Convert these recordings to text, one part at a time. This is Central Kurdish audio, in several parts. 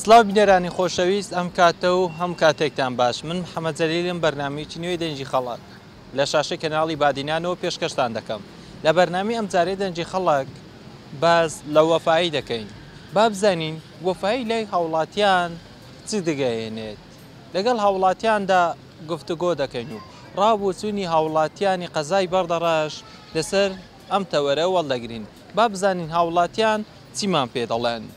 سڵاو بینەرانی خۆشەویست ئەم کاتە و هەموو کاتێکتان باش من محەمەد جەلیلم بەرنامەیەکی نوێی دەنگی خەڵک لە شاشەی کەناڵی بادینانەوە پێشکەشتان دەکەم لە بەرنامەی ئەمجارەی دەنگی خەڵک باس لە وەفایی دەکەین با بزانین وەفایی لای هاوڵاتیان چی دگەیەنێت لەگەڵ هاوڵاتیاندا گفتوگۆ دەکەین و ڕابوچوونی هاوڵاتیانی قەزای بەردەڕەش لەسەر ئەم تەوەرە وەڵدەگرین با بزانین هاوڵاتیان چیمان پێ دەڵێن.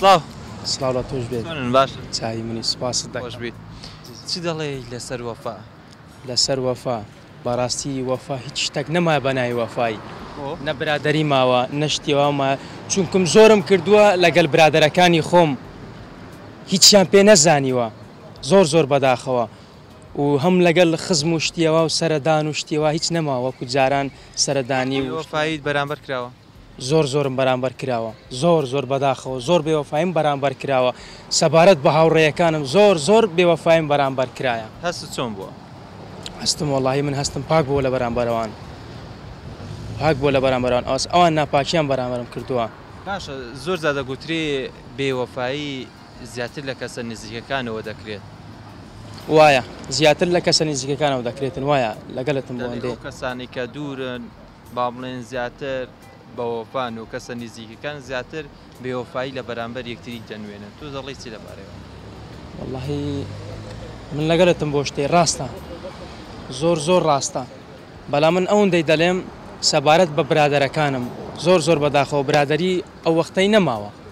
سڵاو سڵاو لە تۆش بێت چۆنن باش چاوی منی سوپاست دەخۆش بیت چ دەڵێ لەسەر وەفا لەسەر وەفا بەڕاستی وەفا هیچ شتێک نەما بە ناوی وەفای نە برادری ماوە نەشتیواما چونکم زۆرم کردووە لەگەل برادەرەکانی خۆم هیچیان پێ نەزانیوە زۆر زۆر بەداخەوە و هەم لەگەل خزم و شتی وا و سەرە دان و شتی وا هیچ نەماوە وەکو جاران سەرە دانی و بێ وەفایت بەرامبەر کراوە. زۆر زۆرم بەرامبەر کراوە زۆر زۆر بەداخەوە زۆر بێ وەفایم بەرامبەر کراوە سەبارەت بە هاوڕێیەکانم زۆر زۆر بێ وەفایم بەرامبەر کرایە. هەستت چۆن بووە؟ هەستم وەڵاهی من هەستم پاک بووە لە بەرامبەر ئەوان پاک بووە لە بەرامبەر ئەوان ئەوان ناپاکیان بەرامبەرم کردووە. باشە زۆر جار دەگوترێ بێ وەفایی. زیاتر لە کەسە نزیکەکانەوە دەکرێت وایە؟ زیاتر لە کەسە نزیکەکانەوە دەکرێتن وایە؟ لەگەلتم بۆ ئەوەندەی. ئەو کەسانەی کە دوورن با بڵێن زیاتر بە وەفان و کەسە نزیکەکان زیاتر بێ وەفایی لە بەرامبەر یەکتری دەنوێنن تۆ دەڵێی چی لەبارەی ئەوە؟ وەڵاهی من لەگەلتم بۆ شتێ ڕاستە زۆر زۆر ڕاستە بەلام من ئەوەندەی دەلێم سەبارەت بە برادەرەکانم زۆر زۆر بەداخەوە برادەری ئەو وەختەی نەماوە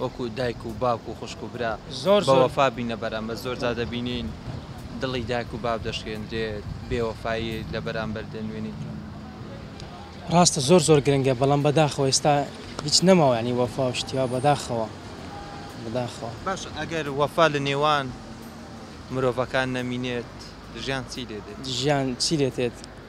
وەکو دایک و باوک و خوشک و برا بەوەفا بینە بەرامبەر زۆر جار دەبینین دڵی دایک و باوک دەشکێندرێت بێوەفایی لە بەرامبەر دەنوێنیت. ڕاستە زۆر زۆر گرنگە بەڵام بەداخەوە ئێستا هیچ نەماوە یانی وەفا و شتی وا بەداخەوە بەداخەوە. باشە ئەگەر وەفا لە نێوان مرۆڤەکان نەمینێت ژیان چی لێدێت؟ ژیان چی لێتێت؟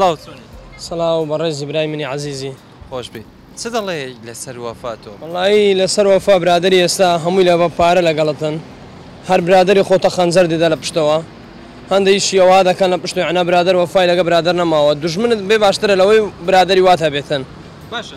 سلااو چۆنی سلااو بەڕێزی برای منی عزیزی خۆش بی چ دەڵێ لەسەر وەفاتۆ وڵایی لەسەر وەفا برادری ئێستا هەمووی لە بە پارە لەگەڵتن هەر برادری خۆتە خەنجەر دیدە لە پشتەوە هەندێک شیەوە دەکەن لە پشت عنا برادر وەفای لەگە برادر نەماوە دژمنت بێ باشترە لەوەی برادری واتە بێتن باشە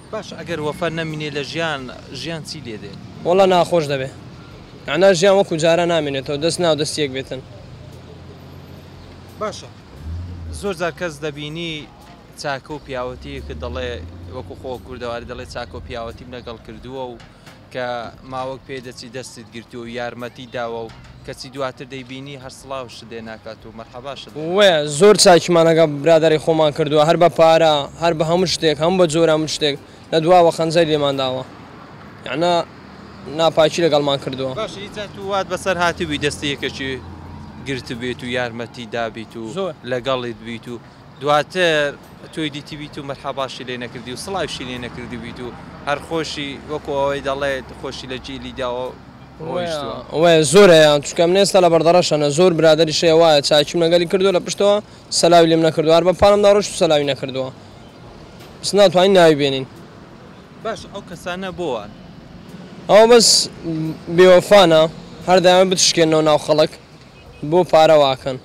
باشە ئەگەر وەفا نەمینێ لە ژیان ژیان چی لێدێ؟ وەڵا ناخۆش دەبێ مەعنا ژیان وەکو جاران نامێنێتەوە دەست ناو دەست یەک بێتن. باشە زۆر جار کەس دەبینی چاکە و پیاوەتیەکە دەڵێ وەکو خۆ کوردەواری دەڵێ چاکە و پیاوەتیم لەگەڵ کردووە و کە ماوەک پێ دەچی دەستت گرتووە و یارمەتی داوە و کەچی دواتر دەیبینی هەر سڵاوشت لێ ناکات و مەرحەباشت لێ ناکات. وەیە زۆر چاکیمان لەگەڵ برادەری خۆمان کردووە هەر بە پارە هەر بە هەموو شتێک هەموو بە جۆرە هەموو شتێک لە دواوە خەنجەری لێمان داوە یەعنی ناپاکی لەگەڵمان کردووە. باشە هیچ جار تۆ وات بەسەر هاتبووی دەستی یەکێکی گرتبێت و یارمەتی دابیت و زۆر. لەگەڵیت بیت و. دواتر تۆی دیتیبیت و مەرحەباشی لێ نەکردی و سڵاویشی لێ نەکردبیت و هەر خۆشی وەکو ئەوەی دەڵێت خۆشی لە جیلی داوە و ڕۆیشتووە. وەیە زۆر هەیە چونکە من ئێستا لە بەردەڕەشەنە زۆر برادەریش هەیە وایە چاکیم لەگەلی کردووە لە پشتەوە سەلاوی لێم نەکردووە هەر بە پانمدا ڕۆیشت و سەلاوی نەکردووە بەس ناتوانین ناوی بێنین. باشە ئەو کەسانە بۆ وان؟ ئەوە بەس بێوەفانە هەر دەیانەوێت بتشکێننەوە ناو خەڵک بۆ پارە واکەن.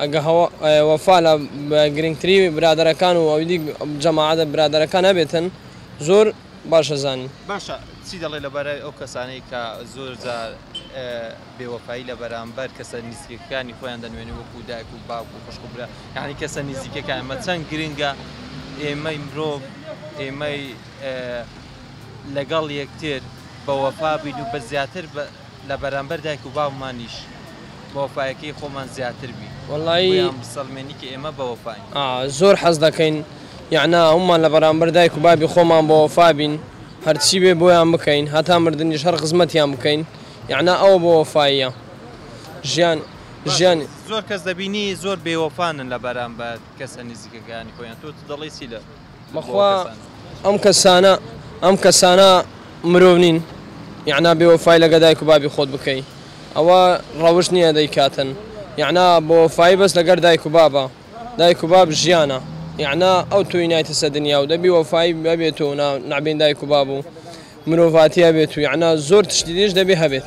ئەگەر وەفا لە گرنگتری برادەرەکان و ئەویدی جەماعەتە برادەرەکان هەبێتن زۆر باش ئەزانین. باشە چی دەڵێ لەبارەی ئەو کەسانەی کە زۆر جار بێ وەفایی لە بەرامبەر کەسە نیزیکەکانی خۆیان دەنوێنێ وەکو دایک و باوک و خوشک و برا یانی کەسە نیزیکەکان مە چەند گرنگە ئێمەی مرۆڤ ئێمەی لەگەڵ یەکتر بە وەفا بین و بە زیاتر بە لە بەرامبەر دایک و باوکمانیش بەوەفایەکەی خۆمان زیاتر بی بۆیان بسەلمێنی کە ئێمە بەوەفاین. زۆر حەز دەکەین یەعنا هەموومان لە بەرامبەر دایک و بابی خۆمان بەوەفا بین هەرچی بێ بۆیان بکەین هەتا مردنیش هەر خزمەتیان بکەین یەعنا ئەوە بەوەفاییە ژیان ژیان. زۆر کەس دەبینی زۆر بێوەفانن لە بەرامبەر کەسە نیزیکەکانی خۆیان تۆ دەڵێی چی لە. بەخوا ئەم کەسانە ئەم کەسانە مرۆڤ نین یەعنا بێوەفای لەگە دایک و بابی خۆت بکەی ئەوە ڕەوشت نییە دەیکاتن یەعنا بۆفای بەس لەگەر دایک و بابە دایک و باب ژیانە یەعنا ئەو تۆی نایتە سە دنیا و دەبی وەفای بەبێت و نابین دایک و باب و مرۆڤاتیە بێت و یەعنا زۆر تشتیدیش دەبێ هەبێت.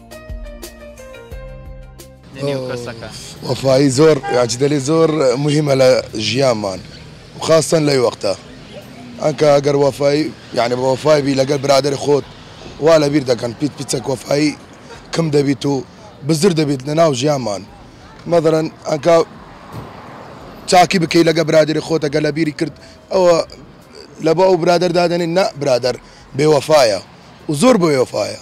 وەفایی زۆر یاجدەلی زۆر مهمە لە ژیانمان خاستن لەی وەختە ئەکە ئەگەر وەفایی یعنی بە وەفای بی لەگەر برادری خۆت وا لە بیر دەکەن پیت پیچەک وەفایی کم دەبیت و بزر دەبیت لە ناو ژیانمان مەدەرن ئەکە چاکی بکەی لەگە برادری خۆت ئەگە لە بیری کرد ئەوە لە بە ئەو برادر دادنی نە برادر بێوەفاایە و زۆر بۆ وەفاایە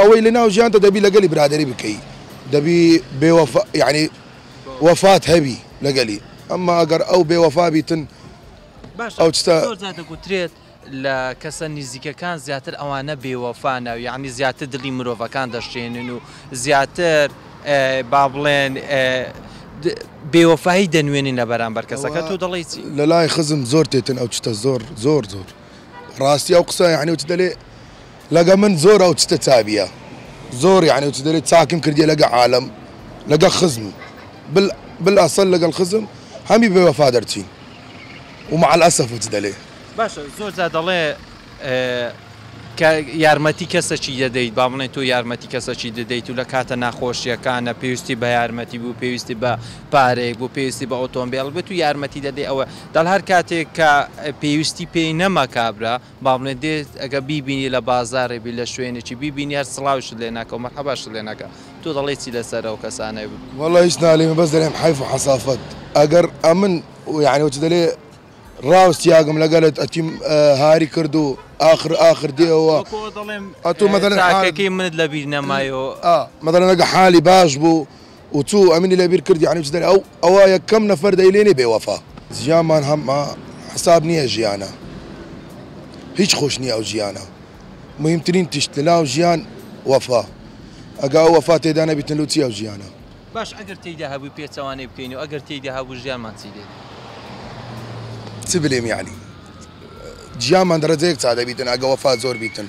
ئەوەی لەناو ژیانتە دەبی لەگەلی برادەری بکەی دەبی بێ وەفا یەعنی وەفات هەبی لەگەلی ئەمما ئەگەر ئەو بێ وەفا بیتن باشە ئەو چتە زۆر جار دەگوترێت لە کەسە نیزیکەکان زیاتر ئەوانە بێ وەفانە و یەعنی زیاتر دڵی مرۆڤەکان دەشکێنن و زیاتر ئێ با بڵێن ئێ د بێ وەفایی دەنوێنن لە بەرامبەر کەسەکە ئەوە تۆ دەڵێی چی؟ لەلای خزم زۆر تێتن ئەو چتە زۆر زۆر زۆر. ڕاستی ئەو قسە یعنی وتە دەلێ لەگە من زۆر ئەو چتە چاویە زۆر یعنی وتە دەلێ چاکم کردیە لەگە عالم لەگە خزم بل بل ئەسەل لەگەڵ خزم هەمی بێ وەفا دەرچین ومع الاسف وتە دەلێ. باشە زۆر جار دەڵێ کە یارمەتی کەسەکی دەدەیت با بڵێن تۆ یارمەتی کەسەکی دەدەیت و لە کاتە ناخۆشیەکانە پێویستی بە یارمەتی بوو پێویستی بە پارەیەک بوو پێویستی بە ئۆتۆمبێڵ بێت و یارمەتی دەدەی ئەوە دەڵێ هەر کاتێک کە پێویستی پێی نەما کابرا با بڵێ دێت ئەگەر بیبینی لە بازارێ بی لە شوێنێکی بیبینی هەر سڵاویشت لێ ناکا و مەرحەباشت لێ ناکا تۆ دەڵێی چی لەسەر ئەو کەسانە. وەڵا هیچ ناڵێ من بەس دەلێم حەیف و حەسافەت ئەگەر ئەمن و یانی وەچی دەلێ ڕاوس تیاگم لەگەلت ئەتیم هاری کرد و ئاخر ئاخر دێ ئەوە وەکو ئەو دەڵێم ئەتو مەدەلێ حالی چاکەکەی منت لەبیر نەمای و ئا مەدەلێ نەگە حالی باش بوو و چو ئەمنی لە بیر کرد یانی چ دەرێ ئەو ئەوە یە کەم نەفەر دە ی لێ بێ وەفا. ژیانمان هە مە حساب نیە ژیانە هیچ خۆش نیە ئەو ژیانە مهیم ترین تشت لە ناو ژیان وەفا ئەگە ئەو وەفا تێدا نە بیتن لو چی ئەو ژیانە. باش ئەگەر تێیدا هەبوی پێچەوانەی بکەین و ئەگەر تێیدا هەبو ژیانمان چی دێت. چ بلێم یانی ژیانمان دە رەجەیەک چا دە بیتن ئەگە وەفا زۆر بیتن.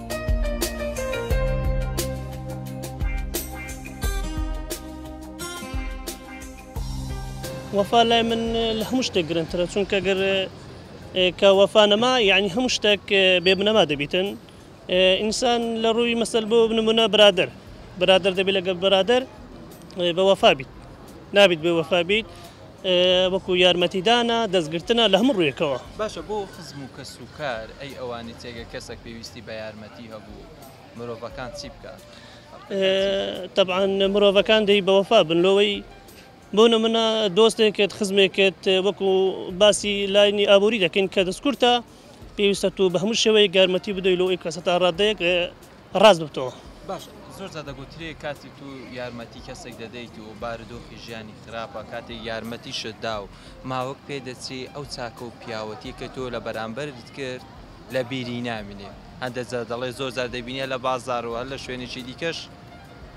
وەفا لای من لە هەموو شتێک گرنگترە چونکە گەر کە وەفا نەما یعنی هەموو شتێک بێ بنەما دەبیتن ئینسان لە ڕووی مەسەل بۆ بنمونە برادر برادر دەبێت لەگەڵ برادر بە وەفا بیت نابیت بێ وەفا بیت وەکو یارمەتیدانە دەستگرتنە لە هەموو ڕوویەکەوە. باشە بۆ خزم و کەس و کار ئەی ئەوانی تر گەر کەسەک پێویستی بە یارمەتی هەبوو مرۆڤەکان چی بکات؟ تەبعەن مرۆڤەکان دەی بەوەفا بن لۆوەی بۆ نمونە دۆستێکت خزمێکت وەکو باسی لاینی ئابووری دەکەین کە دەستکورتە پێویستە تۆ بە هەموو شێوەیەک یارمەتی بدەی لۆ ئەوی کەسە تا ڕادەیەک ڕاست گوتووە. باشە زۆر جار دەگوترێ کاتی تو یارمەتی کەسێک دەدەیت و بارودۆخی ژیانی خراپە کاتێک یارمەتیشت دا و ماوەک پێ دەچێ ئەو چاکە و پیاوەتیە کە تۆ لە بەرامبەرت کرد لە بیری نامینێ هەندێ جار دەڵێ زۆر جار دەبینی هەر لە بازار و هەر لە شوێنێکی دیکەش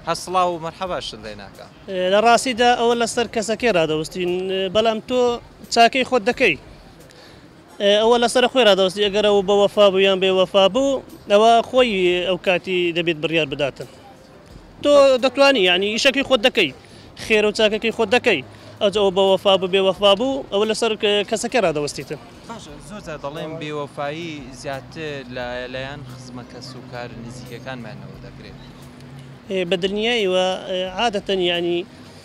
هەر سڵاو و مەرحەباشت لێ ناکا. لە ڕاستیدا ئەوە لە سەر کەسەکەی ڕادەوستین بەڵام تۆ چاکەی خۆت دەکەی. ئەوە لەسەرە خۆی ڕادەوەستی ئەگەر ئەو بە وەفا بوو یان بێ وەفا بوو ئەوە خۆی ئەو کاتی دەبێت بڕیار بداتن تۆ دەتوانی یعنی ئیشەکەی خۆت دەکەی خێرە و چاکەکەی خۆت دەکەی ئەج ئەو بە وەفا بوو بێ وەفا بوو ئەوە لەسەر کەسەکە ڕادەوەستیتن باشە زۆر جار دەڵێن بێوەفایی زیاتر لە لایەن خزمە کەس و کار نزیکەکانمانەوە دەکرێت بە دلنیایەوە عادەتەن یعنی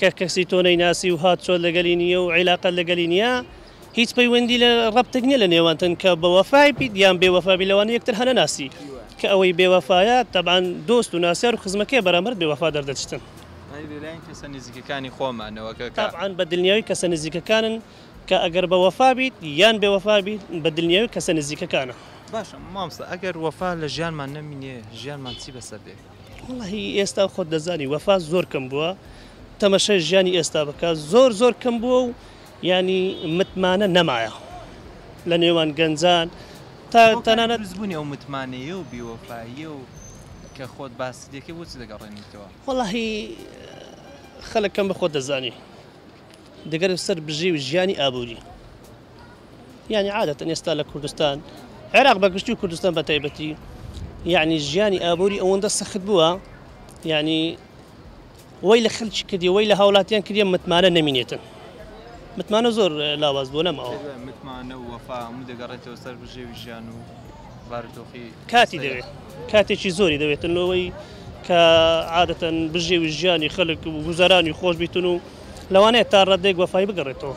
کە کەسی تۆ نەیناسی و هاتچۆت لەگەلی نییە و عیلاقەت لەگەلی نییە، هیچ پەیوەندی لە ڕەبتێک نییە لە نێوانتن کە بە وەفای بیت یان بێ وەفا بیت لەوانەیە یەکتر هەنەناسی کە ئەوەی بێ وەفایە تەبعەن دۆست و ناسیار و خزمەکەیە بەرامبەرت بێ وەفا دەردەچتن. ئەی لە لایەن کەسە نزیکەکانی خۆمان نەوەکەکە؟ تەبعەن بە دلنیایی کەسە نزیکەکانن کە ئەگەر بە وەفا بیت یان بێ وەفا بیت بە دلنیایی کەسە نزیکەکانە. باشە مامۆستا ئەگەر وەفا لە ژیانمان نەمینێ ژیانمان چی بەسەر دێ؟ وەڵاهی ئێستا خۆت دەزانی وەفا زۆر کەم بووە تەمەشای ژیانی ئێستا بکە زۆر زۆر کەم بووە و ینی متمانە نەمایە لە نێوان گەنجان تا تەنانەت زبوونی ئەو متمانەیە و بیوەفاییە و کە خۆت باسی دەکەی بۆچی دەگەڕێنیتەوە؟ وەڵاهی خەلک کەم بە خۆت دەزانی دەگەرە سەر بژێوی ژیانی ئابووری. یانی عادەتەن ئێستا لە کوردستان عێراق بەگشتی و کوردستان بە تایبەتی یعنی ژیانی ئابووری ئەوەندە سەخت بووە یعنی وەی لە خەلکی کردی وەی لە هاوڵاتیان کردی متمانە نمینێتن متمانە زۆر لاواز بۆ لەمەوە متمانە وەفا هەموو دەگەڕێتەوە سەر بژێوی ژیان و بارودۆخی کاتی دەوێت کاتێکی زۆری دەوێتن لەوەی کە عادەتەن بژێوی ژیانی خەلک و گوزارانی خۆش بیتن و لەوانەیە تا ڕادێک وەفای بگەڕێتەوە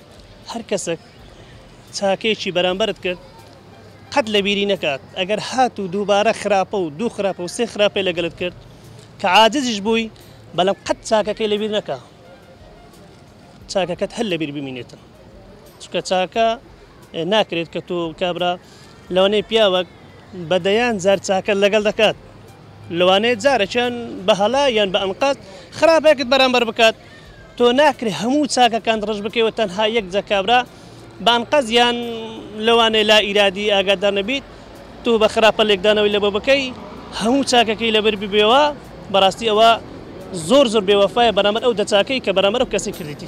هەر کەسەک چاکەیەکی بەرامبەرت کرد قەت لە بیری نەکات ئەگەر هات و دووبارە خراپە و دوو خراپە و سێ خراپەی لەگەلت کرد کە عاجزیش بووی بەڵام قەت چاکەکەی لەبیر نەکە چاکەکەت هەر لەبیر بمینێتن چکە چاکە ناکرێت کە تۆ کابرا لەوانەیە پیاوەک بە دەیان جار چاکە لەگەڵ دەکات لەوانەیە جارەکیان بە هەڵا یان بە ئەنقاز خراپەکەت بەرامبەر بکات تۆ ناکرێ هەموو چاکەکانت ڕەش بکەی و تەنها یەک جە کابرا بە ئەنقەست یان لەوانەیە لا ئیرادی ئاگادار نەبیت تۆ بە خراپە لێکدانەوەی لە بۆ بکەی هەموو چاکەکەی لە بەر ببێوا بەڕاستی ئەوە زۆر زۆر بێ وەفایە بەرامبەر ئەو دە چاکەی کە بەرامبەر ئەو کەسەی کردیتی.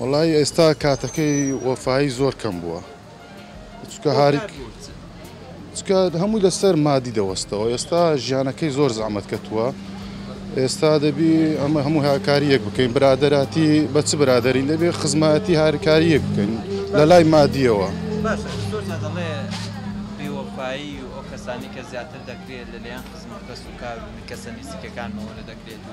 وەڵایی ئێستا کاتەکەی وەفایی زۆر کەم بووە چکە هاریک چکە هەمووی لەسەر مادی دەوەستەوە ئێستا ژیانەکەی زۆر زەحمەت کەتووە ئێستا دەبی ئەمە هەموو هاکاری یەک بکەین برادەراتی بە چ برادری دەبێ خزمەتی هاریکاری یەک بکەین لە لای مادیەوە بەپایی و ئەو کەسانی کە زیاتر دەکرێت لەلیان خزمەت کەس و کار و کەسە نزیکەکانمەوە لە دەکرێت و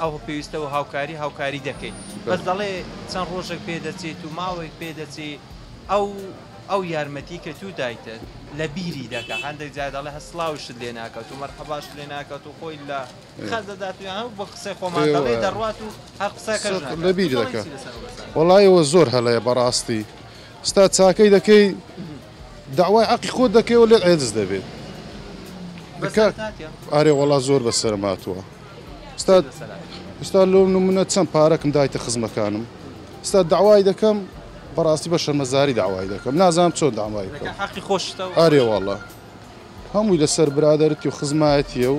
ئەوە پێویستە و هاوکاری هاوکاری دەکەین بەس دەڵێ چەند ڕۆژێک پێ دەچێت و ماوەێک پێ دەچێت ئەو ئەو یارمەتی کە تو دایتە لە بیری دەکە هەندێک جا دەڵێ هە سلااوشت لێ ناکات و مەرحەباشت لێ ناکات و خۆی لە خەزدەدات یان هەو بە قسەی خۆمان دەڵێ دەڕات و هەر قسەکە لە بیر دەکە وڵایەوە زۆر هەڵەیە بەڕاستی ستا چاکەی دەکەی داوای عقی خۆت دەکەی و لێ ئەدز دەبێت ئارێ وڵا زۆر بەسەر ماتووە. ئیستا لۆ نمونە چەند پارەکم دایتە خزمەکانم ئیستا داوای دەکەم بەڕاستی بە شەرمەزاری داوای دەکەم نازانم چۆن داوای حقی خۆش ئارێ واڵە هەمووی لەسەر برادرتی و خزمایەتیە و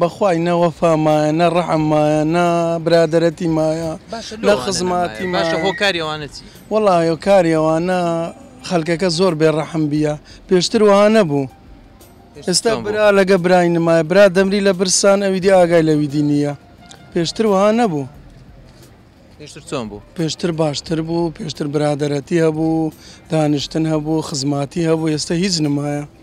بە خوای نە وەفا مایە نە ڕەحم مایە نە برادەرەتی مایە باشە لۆ نە ئەوانە خزماتی نەمایە باشە مایە هۆکاری ئەوانە چی؟ وەڵا هۆکاری ئەوانە خەلکەکە زۆر بێ ڕەحم بیە پێشتر وەها نەبوو پێشتر ئێستا چۆن بوو؟ برا لەگە برای نمایە برا دەمری لە برسان ئەویدی ئاگای لەویدی نیە پێشتر وەها نەبوو پێشتر چۆن بوو؟ پێشتر باشتر بوو پێشتر برادەرەتی هەبوو دانیشتن هەبوو خزماتی هەبوو ئێستا هیچ نمایە.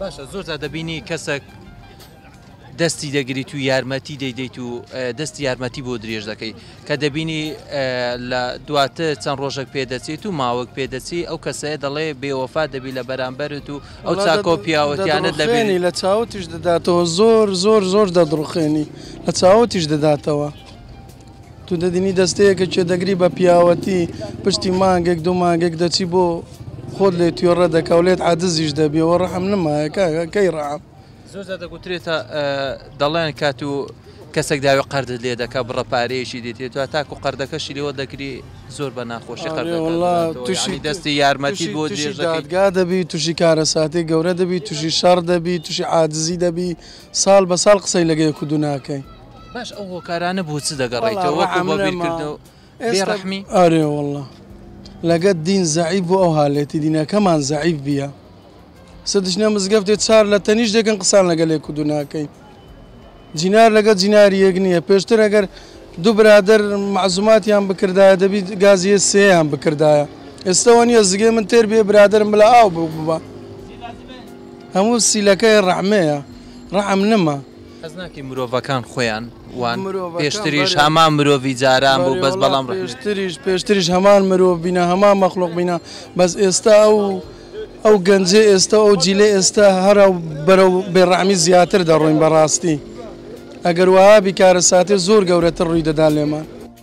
باشە زۆرجار دەبینی کەسەک دەستی دەگریت و یارمەتی دەیدەیت و دەستی یارمەتی بۆ درێژ دەکەی کە دەبینی لە دواتر چەند ڕۆژێک پێدەچێت و ماوەک پێدەچی ئەو کەسەیە دەڵێ بێوەفا دەبی لە بەرامبەرت و ئەو چاکۆ پیاوەتیانت لەبێنی لە چاوتیش دەداتەوە زۆر زۆر زۆر دەدڕخێنی لە چاوتیش دەداتەوە. توندەدینی دەستەیەکە کێ دەگری بە پیاوەتی پشتی مانگێک دوو مانگێک دەچی بۆ خۆت لێ توێڕە دەکا و لێت عادزیش دەبێ و ڕەحم نمایە کاکە کەی ڕەحم زۆر زیاتر گوترێتە دەڵێن کات و کەسێک داوی قەردت لێ دەکا بڕە پارەیەکی دێتێت و تاکو قەردەکەشی لێوە دەگری زۆر بە ناخۆشی آره قەردەکە والله دەدات و توشی یعنی دەستی یارمەتی توشی بۆ توشی درێژ دەکەی دادگا دەبی توشی کارەساتی گەورە دەبی توشی شەڕ دەبی توشی عادزی دەبی ساڵ بە ساڵ قسەی لەگە یەک و دوو ناکەی باش ئەو هۆکارانە بۆ چ دەگەڕیتەوە بیرکردەوە بێڕحمی ئارێ وڵە لەگەت دین زعی بۆ ئەو هاالێتی دینەکەمان زعیف بیە سدشنە مزگەفتێ چار لە تەنیش دەکەن قسان لەگەلێک و دوناکەی جینار لەگە جیناری یەک نییە پێشتر ئەگەر دوو برادر معزوماتیان بکردایە دەبیت گازیە سێیان بکردایە ئێستەوە نیە زگێ من تێر بێ برادرم بلا ئاو بوو ببە هەموو سیلەکەی ڕەحمەیە ڕەحم نەما حەز ناکەی مرۆڤەکان خۆیان وان پێشتریش هەمان مرۆڤی جاران بوو بەس بەڵام پێشتریش پێشتریش هەمان مرۆڤ بینە هەمان مەخلوق بینە بەس ئێستا ئەو ئەو گەنجێ ئێستا ئەو جیلە ئێستا هەرا بەرە بێڕامی زیاتر دەڕۆین بەڕاستی ئەگەر وابی کارە ساتێ زۆر گەورەتر ڕووی دەدان لێمان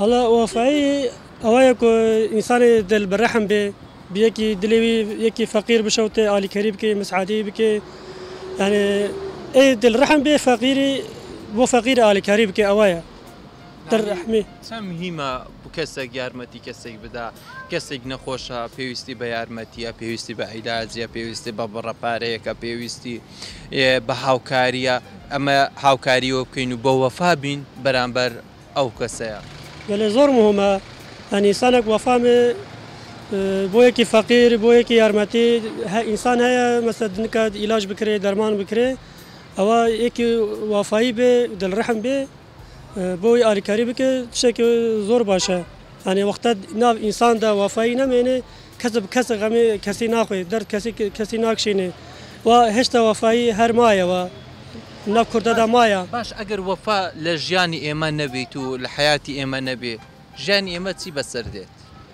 ئەڵا وەفایی ئەوەیە کۆ ئینسانی دل بەرەحم بێ بیەکی دلێوی یەکی فەقیر بشەوتێ ئالیکەری بکەی مسعادی بکەی یعنی ئەی دل رحم بێ فەقیری بۆ فەقیر ئالیکاری بکە ئەوەیە دەرحمی چەم هیمە کەسێک یارمەتی کەسێک بدا کەسێک نەخۆشە پێویستی بە یارمەتیە پێویستی بە عیلاجە پێویستی بە بڕە پارەیەکە پێویستی بە هاوکارییە ئەمە هاوکاریەوە بکەین و بە وەفا بین بەرامبەر ئەو کەسەیە. گەلێ زۆر مهمە هە نیسانەک وەفا مێ بۆ یەکی فەقیر بۆ یەکی یارمەتی هە ئینسان هەیە مەسە دنکات ئیلاج بکرێ دەرمان بکرێ ئەوە یەکی وافایی بێ دلرحم بێ بۆ ئەوەی ئالیکاری بکەی شتێکی زۆر باشە یانێ وەختە ناو ئینساندا وافایی نەمێنێ کەس کەسە غەمێ کەسی ناخۆێ دەر کەسی کەسی ناکشێنێ و هێشتا وافایی هەرمایەوە ناو کوردەدا مایە باش ئەگەر وەفا لە ژیانی ئێمە نەبیت و لە حیاتی ئێمە نەبێ ژیانی ئێمە چی بەسەر دێت؟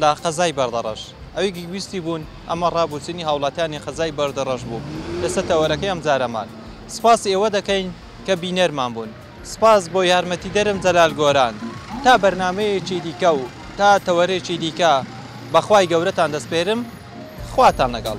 لە قەزای بەردەڕەش ئەوی گگویستی بوون ئەمە ڕابوچنی هاوڵاتیانی قەزای بەردەڕەش بوو ئێستا تەوەرەکەی ئەم جارەمان سپاسی ئێوە دەکەین کە بینەرمان بوون سپاس بۆ یارمەتیدەرم جەلال گۆران تا بەرنامەیەکی دیکە و تا تەوەرێکی دیکە بە خوای گەورەتان دەسپێرم خواتان لەگەڵ.